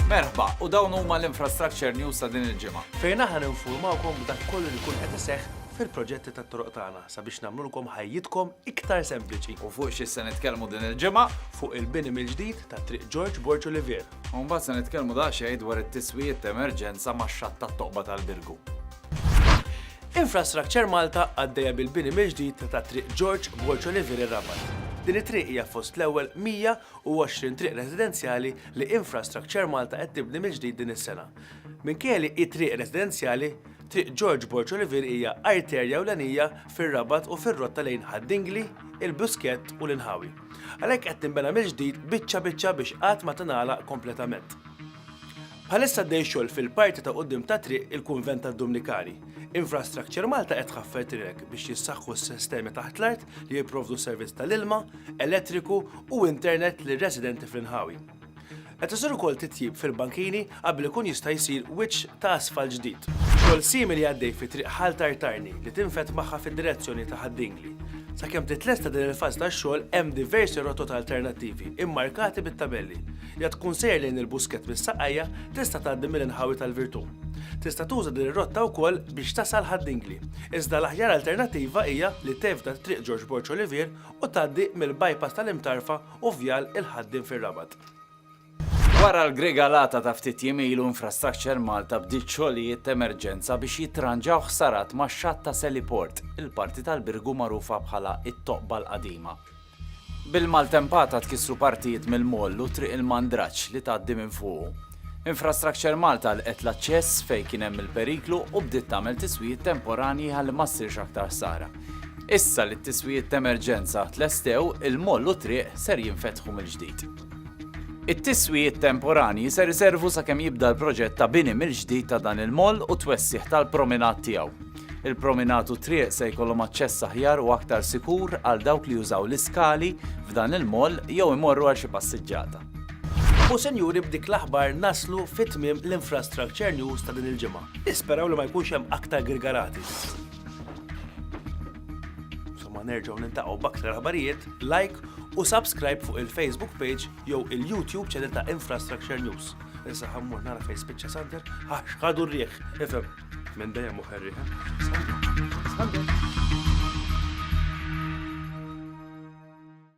Merħba, u dawn huma l-Infrastructure News ta' din il-ġimgħa. Fejn aħna ninfurmawkom b'dak kollu li jkun qed iseħħ fil-proġetti tat-toroq tagħna sabiex nagħmlulkom ħajjitkom iktar sempliċi. U fuq xi se nitkellmu din il-ġimgħa? Fuq il-bini mill-ġdid ta' Triq Ġorġ Borġ Olivier. U mbagħad se nitkellmu daqsxejn dwar it-tiswijiet ta' emerġenza max-xatt tat-toqba tal-Birgu. Infrastructure Malta għaddejja bil-bini mill-ġdid ta' Triq George Borconi-Viri Rabat. Din it-triq hija fost l-ewwel 120 triq residenzjali li Infrastructure Malta qed tibni mill-ġdid din is-sena. Minkejja li hi triq residenzjali, Triq George Borconi-Viri hija arterja ewlenija fir-Rabat u fir-rotta lejn Ħad Dingli, il-Buskett u l-inħawi. Għalhekk qed tinbena mill-ġdid biċċa biċċa biex qatt ma tingħalaq kompletament. Bħalissa għaddej xogħol fil-parti ta' quddiem ta' Triq il-Kunvent tad-Dumnikani. Infrastructure Malta qed tħaffer triq biex jissaħħu s-sistemi taħt l-art li jipprovdu servizz tal-ilma, elettriku u internet lir-residenti fl-inħawi. Qed isir ukoll titjib fil-bankini qabel ikun jista' jsir wiċċ ta' asfalt ġdid. Xogħol simili għaddej fi Triq Ħal Tartarni li tinfed magħha fid-direzzjoni ta' Ħad-Dingli. Sakemm titlesta din il-fażi tax-xogħol hemm diversi rotot alternattivi mmarkati bit-tabelli. li qed tkun sejjer lejn il-Buskett mis-Saqajja tista' tgħaddi mill-inħawi tal-Virtù. Tista' tuża din ir-rotta wkoll biex tasal Ħad-Dingli, iżda l-aħjar alternattiva hija li tevita t-Triq Ġorġ Borg Olivier u tgħaddi mill-bypass tal-Imtarfa u Vjal il-Ħaddiem fir-Rabat. Wara l-grigalata ta' ftit jiem ilu Infrastructure Malta bdiet xogħlijiet t'emerġenza biex jittranġaw ħsarat max-xatt ta' Seliport, il-parti tal-Birgu magħrufa bħala t-Toqba l-Qadima. Bil-maltempata tkissru partijiet mill-moll u Triq il-Mandraġġ li tgħaddi minn fuqu. Infrastructure Malta għalqet l-aċċess fejn kien hemm il-periklu u bdiet tagħmel tiswijiet temporanji ħalli ma ssirx aktar ħsara. Issa li t-tiswijiet t'emerġenza tlestew, il-moll u t-triq ser jinfetħu mill-ġdid. It-tiswijiet temporanji ser iservu sakemm jibda l-proġett ta' bini mill-ġdid ta' dan il-moll u t-twessigħ tal-prominat tiegħu. Il-prominat u t-triq se jkollhom aċċess aħjar u aktar sikur għal dawk li jużaw l-iskali f'dan il-moll jew imorru għal xi passiġġata. U sinjuri b'dik l-aħbar naslu fi tmiem l-Infrastructure News ta' din il-ġimgħa. Nisperaw li ma jkunx hemm aktar girgarati. Somma nerġgħu nintaqgħu b'aktar aħbarijiet, like u subscribe fuq il-Facebook page jew il-YouTube channel ta' Infrastructure News. Issa ħammur nara fejn spiċċa Sander, għax ħadu r-rieħ, ifhem. Minn dejjem u ħerriħ. Sander.